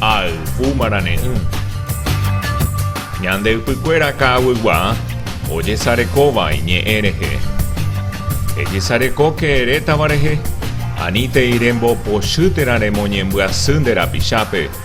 Ayvu marane'ỹ. Ñande ypykuéra ka'aguygua ojesarekóva iñe'ẽ rehe. Ejesarekóke erétava rehe, anítei rembopochy térã remoñembyasy nde rapichápe.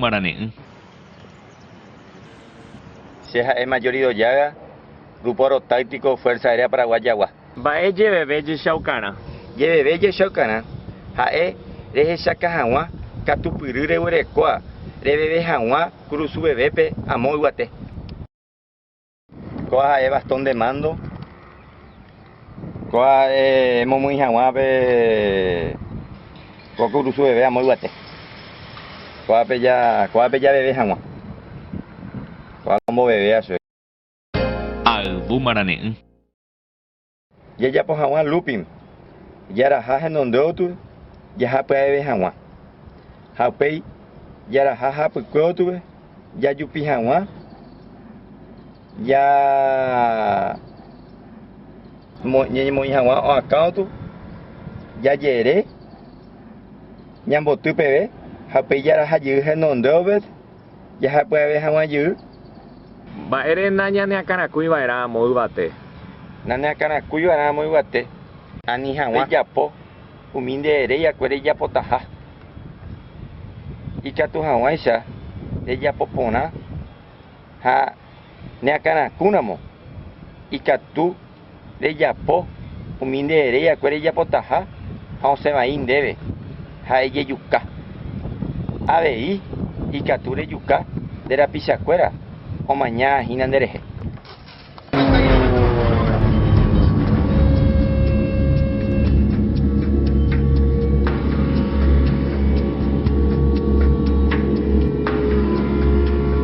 marane'ỹ. Che ha'e Majorido Yaga, Grupo Aerotáctico Fuerza Aérea Paraguayagua. Mba'e jeveve jechaukarã. Jeveve jechaukarã, ha'e rehechaka haguã katupyry reguerekóa reveve haguã kurusuvevépe amo yvate. Kóa ha'e bastón de mando, kóa ha'e emomyĩ haguã pe ko kurusuveve amo yvate. Kóape ja, kóape javeve haguã. Kóa omboveve asy. Ayvu marane'ỹ. Jajapo hag̃ua looping, jaraha henonde otube jahapya'eve hag̃ua. Ha upéi jaraha hapykue otube jajupi hag̃ua ja ñañemoĩ hag̃ua oakã otu, jajere, ñamboty peve ha upéi jaraha jey henonde ovet. jahapyave hag̃ua jey. Mba'ére nañaneakãrakúi va'erã amo yvate. Naneakãrakúi va'erã amo yvate. Ani hag̃ua rejapo umi nde reiakue rejapotaha. Ikatu hag̃uáicha rejapo porã ha neakãrakúramo ikatu. rejapo umi nde heréiakue rejapotaha ha osẽ vai ndéve ha ejejuka. Avei ikatu rejuka nde rapichakuéra omaña hína nde rehe.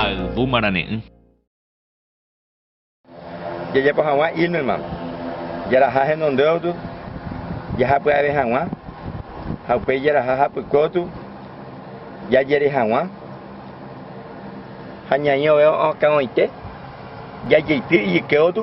Ayvu marane'ỹ. Jajapo hag̃ua Ilmenman, jaraha henondéotu jaha pya'eve hag̃ua ha upéi jaraha hapykótu jajere hag̃ua ha ñaĩ ove'õ akãgoite jajeityr ijykéotu.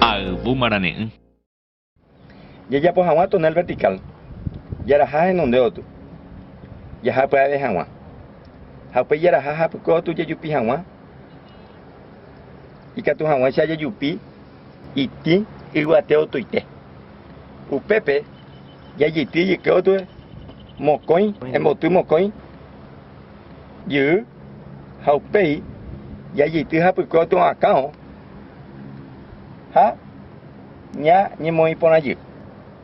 Ayvu marane'ỹ. Jejapo hag̃ua túnel vertikál, jaraha henonde otu, jaha pya'eve hag̃ua. Ha upéi jaraha ha pykueotu jejupi hag̃ua, ikatu hag̃uáicha jejupi. Itĩ yvate otoite. Upépe jajeity ejyke otue mokõi emboty mokõi jyy ha upéi jajeity hapykue otyvakão ha ñañemoĩporãjy.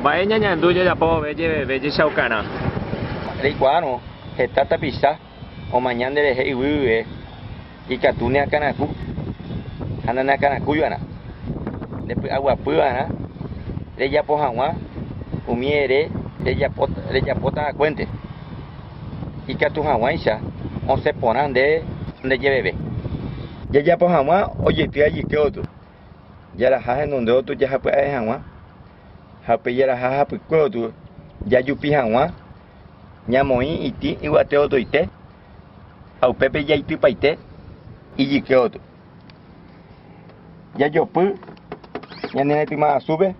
Mba'e ñañandu jajapo vove jeveve jechaukarã. Reikuaárõ heta tapicha omaña nderehe yvyguive ikatu neakãraku ha naneakãrakúiva'erã. Nde py'aguapyva'erã rejapo hag̃ua umi ere rejapótavakuénte. ikatu hag̃uáicha osẽ porã nde ndejeveve. Jajapo hag̃ua ojeity ajyke oty, jaraha henonde oty jahapya'e hag̃ua, ha upe jaraha hapykue oty jajupi hag̃ua, ñamoĩ itĩ yvate otoite ha upépe jaitypaite ijyke oty. Jajopy ñane retýma asúpe,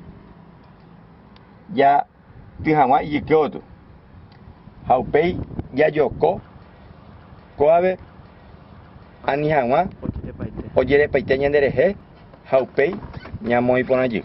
ja. ty hag̃ua ijyke gotyo, ha upéi jajoko kóvape ani hag̃ua ojerepaite ñande rehe ha upéi ñamoĩ porã jey.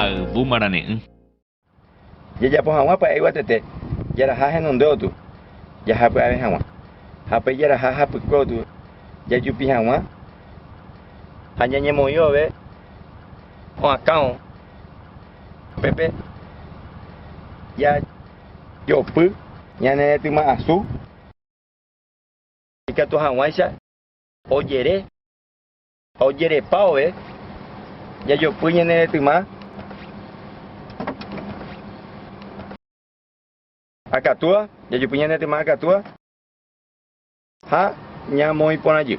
Ayvu marane'ỹ. Jajapo hag̃ua pya'e yvatete, jaraha henonde otu, jaha py'ave hag̃ua. Ha pe jaraha hapykue otu, jajupi hag̃ua ha ñañemoĩ vove oakão pépe ja. jopy, ñane retyma asu. Ikatu hag̃uáicha ojere ha ojerepa ove, jajopy ñane retyma akatúva, jajopy ñane retyma akatúva. Ha ñamoĩ porãjy.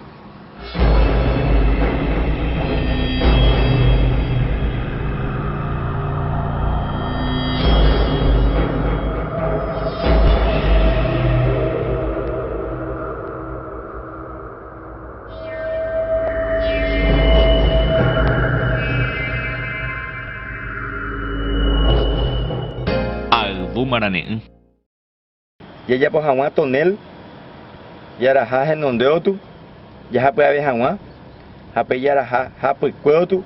Ayvu marane'ỹ. Jajapo hag̃ua tonél, jaraha henondéotu, jahapy'ave hag̃ua, ha pe jaraha hapykuéotu,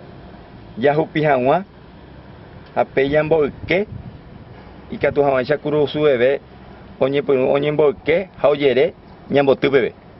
jahupi hag̃ua, ha pe jamboyke, ikatu hag̃uáicha kurusuveve oñepyrũ oñemboyke ha ojere ñamboty peve.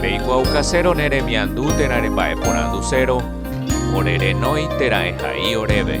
Reikuaukasérõ ne remiandu térã remba'eporandusérõ, ore renói térã ehai oréve.